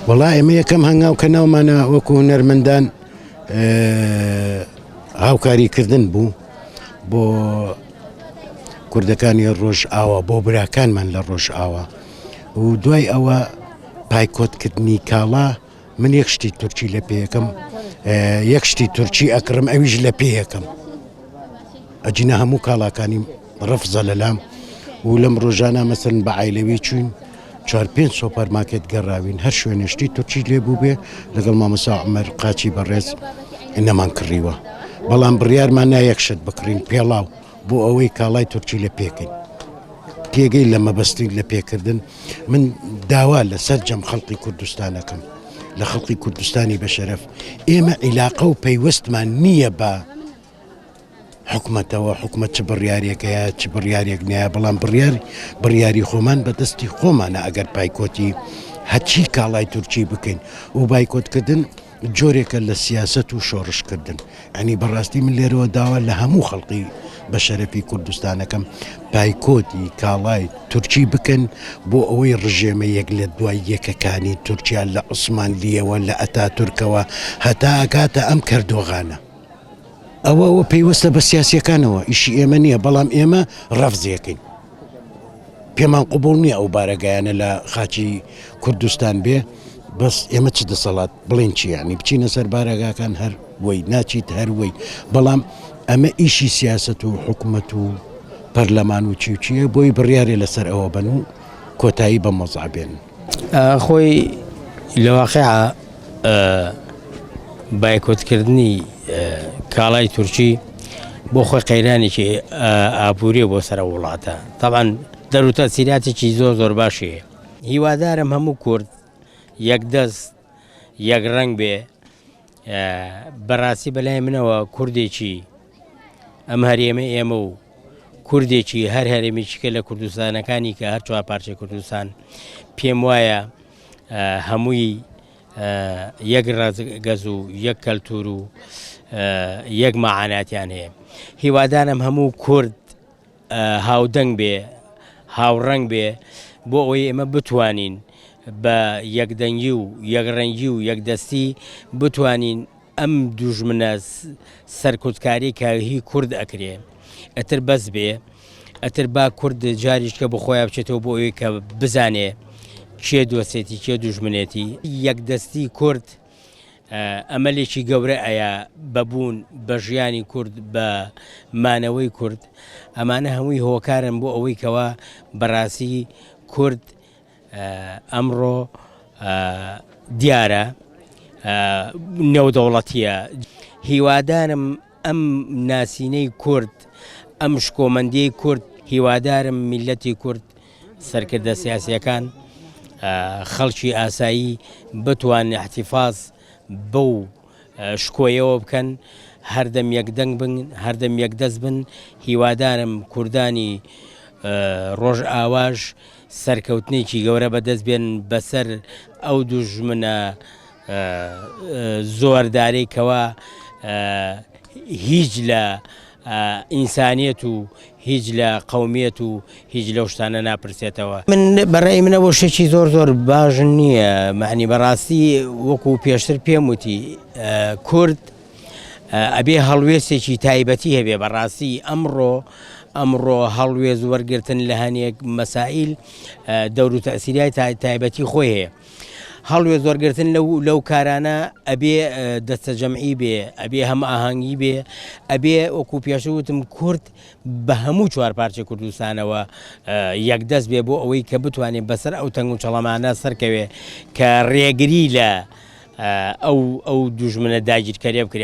وەڵا ئێمە یەکەم هەنگاو کە ناومانە وەکو هونەرمەندان هاوکاریکردن بوو بۆ کوردەکانی ڕۆژ ئاوا بۆ براکانمان لە ڕۆژ ئاوا و دوای ئەوە پایکۆتکردنی کاڵا من یەک شتی تورکی لە پێیەکەم یەک شتی تورکی ئەکڕم ئەویش لە پێیەکەم ئەجینا هەموو کاڵاکانی رەفزە لەلام و لەم ڕۆژانە مەسەن بە عیلەوی چوین چوار پێنج سۆپەر ماکێت گەڕاوین هەر شوێنشتی تورکی لێ بوو بێ لەگەڵ مامەسا عمر قاچی بەڕێز نەمان کڕیوە بەڵام بڕیارمان نایەکشت بکڕین پێڵاو بۆ ئەوەی کاڵای تورکی لە پێکەین پێگەی لە مەبەستین لە پێکردن من داوا لە سەررجەم خەڵقی کوردستانەکەم لە خەڵقی کوردستانی بەشەرف ئێمە عیلاقە و پەیوەستمان نییە بە حکومەتەوە، حکومەت چ بڕیارێک هەیە چ بڕیارێک نەیە، بەڵام بڕیار بڕیاری خۆمان بە دەستی خۆمانە ئەگەر پایکۆتی هەرچی کاڵای تورکی بکەین و بایکۆتکردن جۆرێکە لە سیاسەت و شۆڕشکردن ئەنی بەڕاستی من لێرەوە داوا لە هەموو خەڵقی بە شەرەفی کوردستانەکەم پایکۆتی کاڵای تورکی بکەن بۆ ئەوەی ڕژێمە یەک لە دوای یەکەکانی تورکیا لە عوسمان لیەوە لە ئەتا تورکەوە هەتا ئەکاتە ئەم کەردۆغانە. ئەوە ئەوە پەیوەستە بە سیاسیەکانەوە ئیشی ئێمە نییە بەڵام ئێمە ڕەفزیەکەین پێمان قوبول نییە ئەو بارەگایانە لە خاچی کوردستان بێ بەس ئێمە چ دەسەڵات بڵین چیانی بچینە سەر بارەگاکان هەر وی ناچیت هەروەی بەڵام ئەمە ئیشی سیاست و حکومت و پەرلەمان و چیوچیە بۆی بڕیارێ لەسەر ئەوە بن و کۆتایی بە مەزابێن خۆی لە واقعا بایکۆتکردنی کاڵای تورکی بۆ خۆی قەیرانێکی ئابووری بۆ سەر وڵاتە تاوان دەروتە سیراتێکی زۆر زۆر باشی هیوادارم هەموو کورد یەک دەست یەک ڕنگ بێ بەڕاستی بەلای منەوە کوردێکی ئەم هەرێمە ئێمە و کوردێکی هەر هەرێمێکیکە لە کوردستانەکانی کە هەر چوار پارچەی کوردستان پێم وایە هەمووی یەک ڕزگەز و یەک کەلتور و یەک مەعاناتیان هەیە هیوادانم هەموو کورد هاودەنگ بێ، هاوڕەنگ بێ، بۆ ئەوەی ئێمە بتوانین بە یەکدەنگی و یەکڕەنگی و یەکدەستی بتوانین ئەم دوژمنە سەرکوتکارەی کە هی کورد ئەکرێ ئەتر بەس بێ، ئەتر با کورد جاریشکە بۆ خۆیا بچێتەوە بۆ ئەوەی کە بزانێ کێ دۆستێتی کێ دوژمنێتی، یەکدەستی کورد ئەمەلێکی گەورە ئەیا بە بوون بە ژیانی کورد بە مانەوەی کورد ئەمانە هەمووی هۆکارن بۆ ئەوەی کەوا بەڕاستی کورد ئەمڕۆ دیارە نێودەوڵەتیە هیوادارم ئەم ناسینەی کورد، ئەم شکۆمەندیەی کورد، هیوادارم میللەتی کورد، سەرکردە سیاسیەکان، خەڵکی ئاسایی بتوان احتفاظ بەو شکۆیەوە بکەن، هەردەم یەک دەنگ بن، هەردەم یەک دەست بن، هیوادارم کوردانی ڕۆژئاواش سەرکەوتنێکی گەورە بەدەست بێنن بەسەر ئەو دوژمنە زۆر دارەی کەوا هیچ لە ئینسانیت و هیچ لە قومیت و هیچ لەو شتانە ناپرسێتەوە من بەڕێ منە بۆ شتێکی زۆر زۆر باش نییە معنی بەڕاستی وەکو پێشتر پێم وتی کورد ئەبێ هەڵوێستێکی تایبەتی هەبێ بەڕاستی ئەمڕۆ ئەمڕۆ هەڵوێز وەرگتن لە هەنێک مەسائیل دەور و تەسیریای تایبەتی خۆی هەیە هەڵوێست وەرگرتن لەو لەو کارانە ئەبێ دەستە جەمعی بێ ئەبێ هەم ئاهەنگی بێ ئەبێ وەکو پێشوتم کورد بە هەموو چوار پارچە کوردستانەوە یەکدەست بێ بۆ ئەوەی کە بتوانێت بەسەر ئەو تەنگ و چڵەمانە سەرکەوێ کە ڕێگری لە ئەو ئەو دوژمنە داگیرکەرێ بکرێ